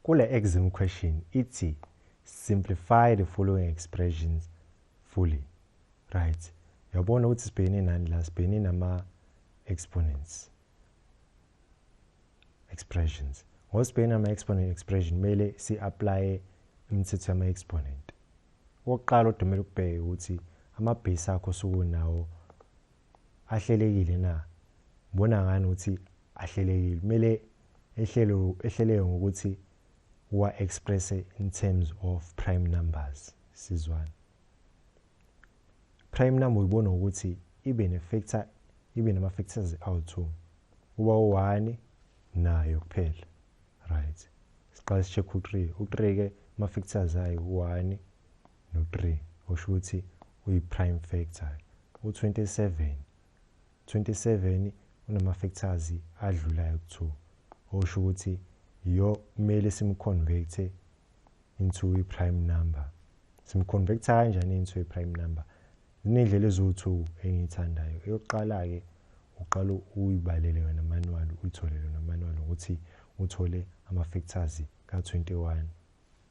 Kule exam question ithi simplify the following expressions fully. Right. Yabona ukuthi sibhekene nani la sibhekene nama exponents. Expressions. Ngosibhekene nama exponent expression mele si apply imithetho yama exponent. Okokuqala odumela ukubheka ukuthi ama base akho sukunawo ahlelekile na bona ngani ukuthi ahlelekile kumele ehlelo ehleleke ngokuthi wa express in terms of prime numbers sizwana prime number uyibona ukuthi ibe ne factor ibe nama factors awu2 uba u1 nayo kuphela right siqala sicheck u3 u3 ke ama factors ayi 1 no-3 oshuthi uyi-prime factor. U-27 27 unama-factors adlulayo ku-2 osho ukuthi yo kumele simconvert into i-prime number. Simconverta kanjani into i-prime number? Ziney'ndlela eziwu-two engiyithandayo. Eyokuqala-ke uqala uyibalele yona manual uyithole yona manual ukuthi uthole ama-factors ka-21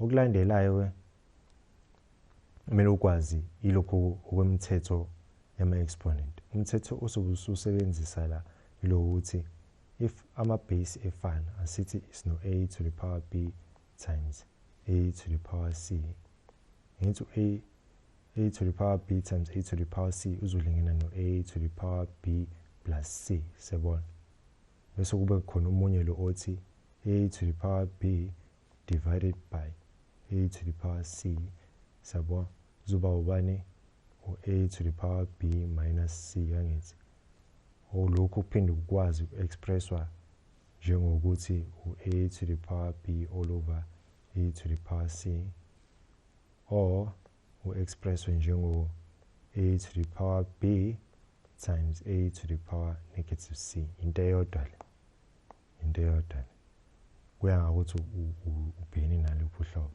okulandelayo ke kumele ukwazi ilokho okwemithetho yama-exponent umthetho osobe ususebenzisa la yilo ukuthi if ama-base efana asithi is no-a to the power b times a to the power c ngithi u-a a to the power b times a to the power c uzolingana no-a to the power b plus c sebona bese kube khona omunye lo othi a to the power b divided by a to the power c sabo zoba ubani u-a to the power b minus c kangithi olokhu kuphinde kukwazi uku-expresswa njengokuthi u-a to the power b all over a to the power c or u-expresswe njengo-a to the power b times a to the power negative c into eyodwa le into eyodwa le kuya ngakuthi ubhekene naluphi uhlobo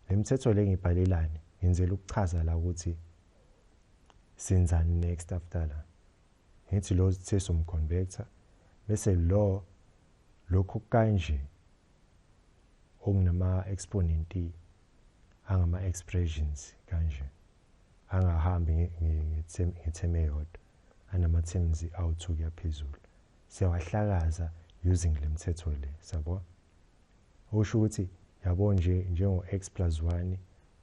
le mithetho le ngibhalelani ngenzela ukuchaza la ukuthi senzani next after la ngithi lo uthe somconvector bese lo lokhu kanje okunama exponent angama expressions kanje angahambi ngetheme yodwa anama terms awuthu kuyaphezulu siyawahlakaza using lemthetho le sabo usho ukuthi yabo nje njengo x plus 1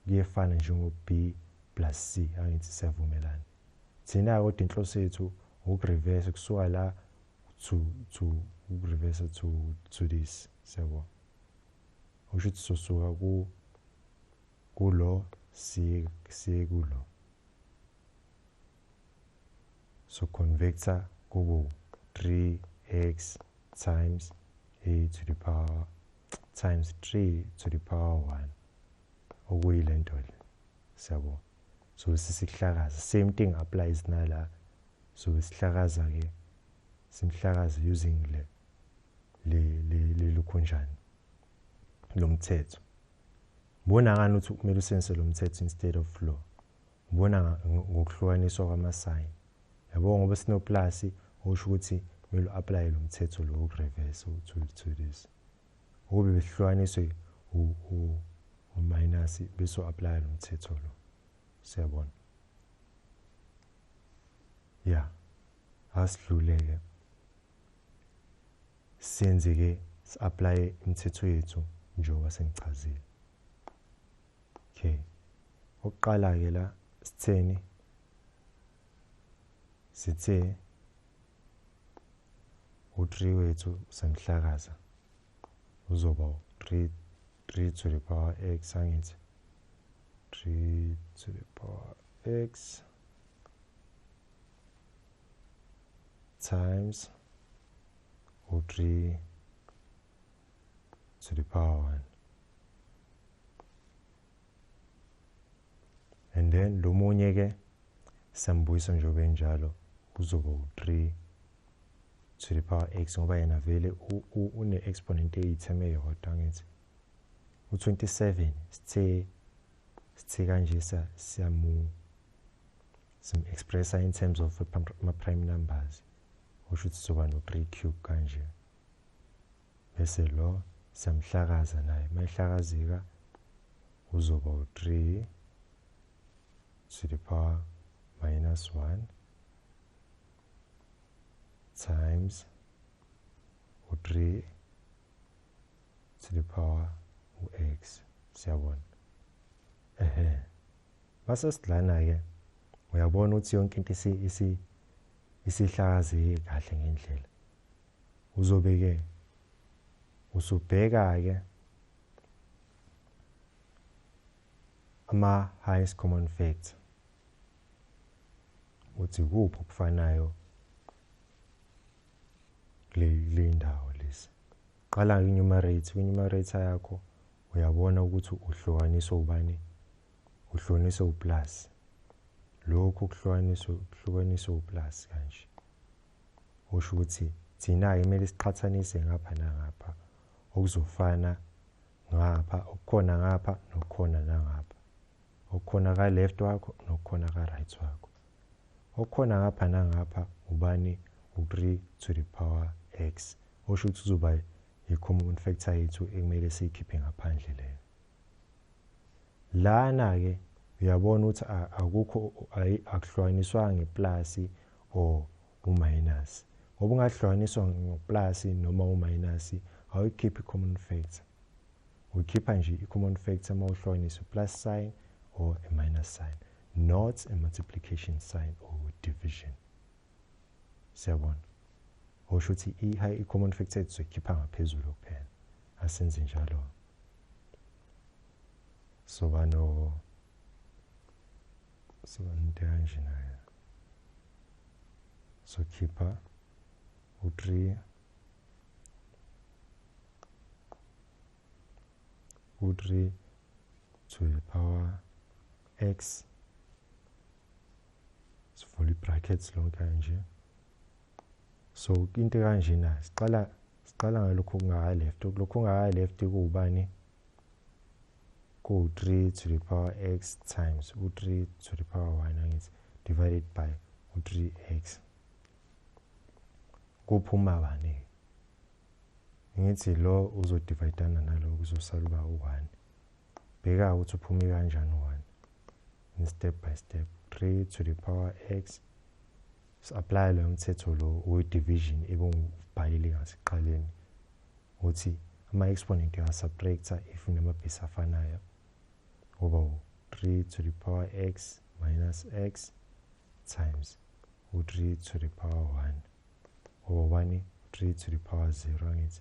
kuyefana njengo b plus c angithi siyavumelana thina kodwa inhloso yethu ukureverse kusuka la to to ukureverse to to this sabo okusho ukuthi sosuka ku kulo siye siye kulo so convecta kubo 3x times a to the power times 3 to the power 1 okuyile nto le siyabo so sisihlakaza same thing applies nala so sihlakaza ke simhlakaza using le lilukhonjani lomthetho ngibona ngani ukuthi kumele usense lomthetho instead of law ngibona ngokuhlukaniswa kwamasign yabo ngoba sinoplasi usho ukuthi kumele uapply lomthetho lo ukureverse to to this ukube behlukaniswe u u minus bese uapply lomthetho lo siyabona yeah asidluleke senze ke si-aplaye imithetho yethu njengoba sengichazile okay okuqala-ke la sitheni sithe u-three wethu usemhlakaza uzoba u-three three to the power x angithi three to the power x times u3 to the power 1 and then lo munye ke sambuyisa njengoba enjalo kuzoba u3 to the power x ngoba yena vele une-exponent eyitheme eyodwa ngithi u-27 sithe sithe kanje siyamu sim expressa in terms of ama prime numbers usho ukuthi sizoba no 3 cube kanje bese lo siyamhlakaza naye mayihlakazeka uzoba u3 to the power minus 1 times u3 to the power u-x siyabona ehe Base sidlana-ke uyabona ukuthi yonke into isihlakazeke kahle ngendlela. Uzobe-ke usubheka-ke ama-highest common factor ukuthi kuphi okufanayo kule ndawo lesi. Qala nge-numerator, kwi-numerator yakho uyabona ukuthi uhlukaniswe ubani uhlukaniswe uplus lokhu kuhlukaniswe kuhlukaniswe uplus kanje usho ukuthi thina-ke kumele siqhathanise ngapha nangapha okuzofana ngapha okukhona ngapha nokukhona nangapha okukhona ka-left wakho nokukhona ka-right wakho okukhona ngapha nangapha ubani u-3 to the power x osho ukuthi uzoba Hi common factor yethu ekumele siyikhiphe ngaphandle leyo. Lana ke uyabona ukuthi akukho akuhlukaniswa ngeplus or uminus. Ngoba ungahlukaniswa ngeplus noma uminus awuyikhiphi common factor. Ukhipha nje i-common factor uma uhlukanisa i-plus sign or a minus sign, not a multiplication sign or division. siyabona osho ukuthi i-high common factor aid sizoyikhipha ngaphezulu kuphela asenze njalo soba no soba nento kanje nayo sokhipha u-three u-three to the power x sivula i-brackets lonke nje so into kanjena siqala siqala ngalokho kungaka left lokho kungaka left kuwubani ku-3 to the power x times u-3 to the power 1 angithi divided by u-3x kuphuma bani ngithi lo uzodivayidana nalo kuzosala uba u-1 bheka ukuthi uphume kanjani one in step by step 3 to the power x si-aplaya loyo mthetho lo we-division ebungubhalile ngasiqaleni ukuthi ama-exponent uyasubtracta if unamabhesi afanayo ngoba u-3 to the power x minus x times u-3 to the power 1 ngoba 1 3 to the power 0 angithi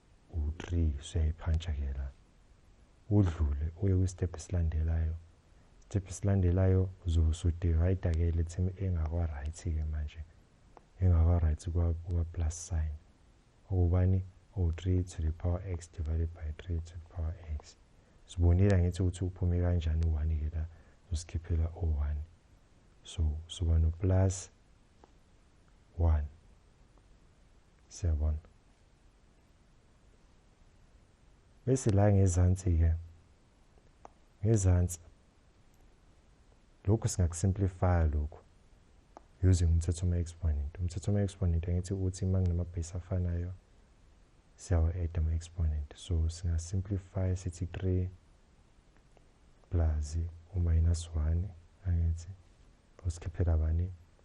u-3 suyayiphantsha-kela udlule uye kwisitebhu esilandelayo isitebhu esilandelayo uzosudivider-ke le team engakwa-right-ke manje engakwa-right kwa-plus sign okubani o-3 to the power x divided by 3 to the power x sibonile angithi ukuthi uphume kanjani u-1-ke la usikhiphela o-1 so suba no-plus 1 siyabona bese la ngezansi ke ngezansi lokhu singakusimplifya lokhu using umthetho wama-exponent umthetho wama-exponent angithi ukuthi uma nginama-base afanayo siyawa-add ama-exponent so singasimplifya sithi 3 plus u-minus 1 angithi usikhiphe kabani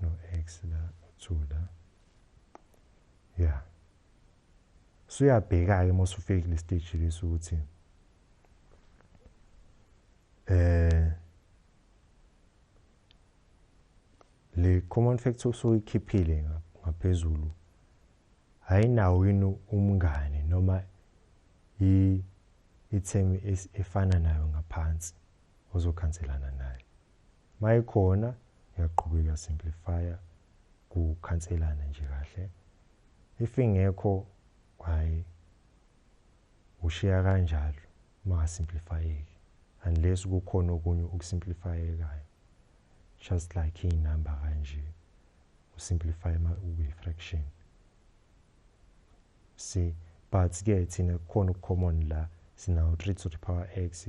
no x la no 2 la ya suyabheka ke mose ufike kule stage lesi ukuthi eh le common factor soyikhiphile ngaphezulu ayinawo yini umngane noma i ithemi efana nayo ngaphansi ozokhanselana nayo mayekhona yaqhubeka simplifier kukhanselana nje kahle if ingekho hayi ushiya kanjalo mangasimplifayeki unless kukhona okunye okusimplifayekayo just like iy'number kanje usimplify uyi-fraction see but-ke thina kukhona uku-common la sinawo 3 to the power x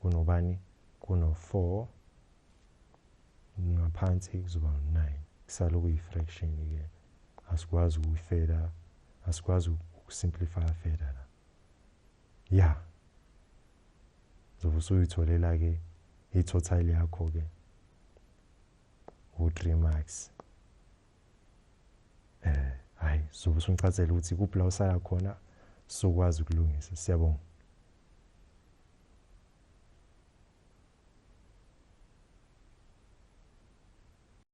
kunobani kuno-4 ngaphansi kuzoba u-9 kusale okuyi-fraction-ke asikwazi ukuyifeda asikwazi ukusimplify feda la ya zobe usuyitholela-ke i-total yakho-ke u-3 marks eh hayi zobe usungichazela ukuthi kuphi la usaya khona sokwazi ukulungisa siyabonga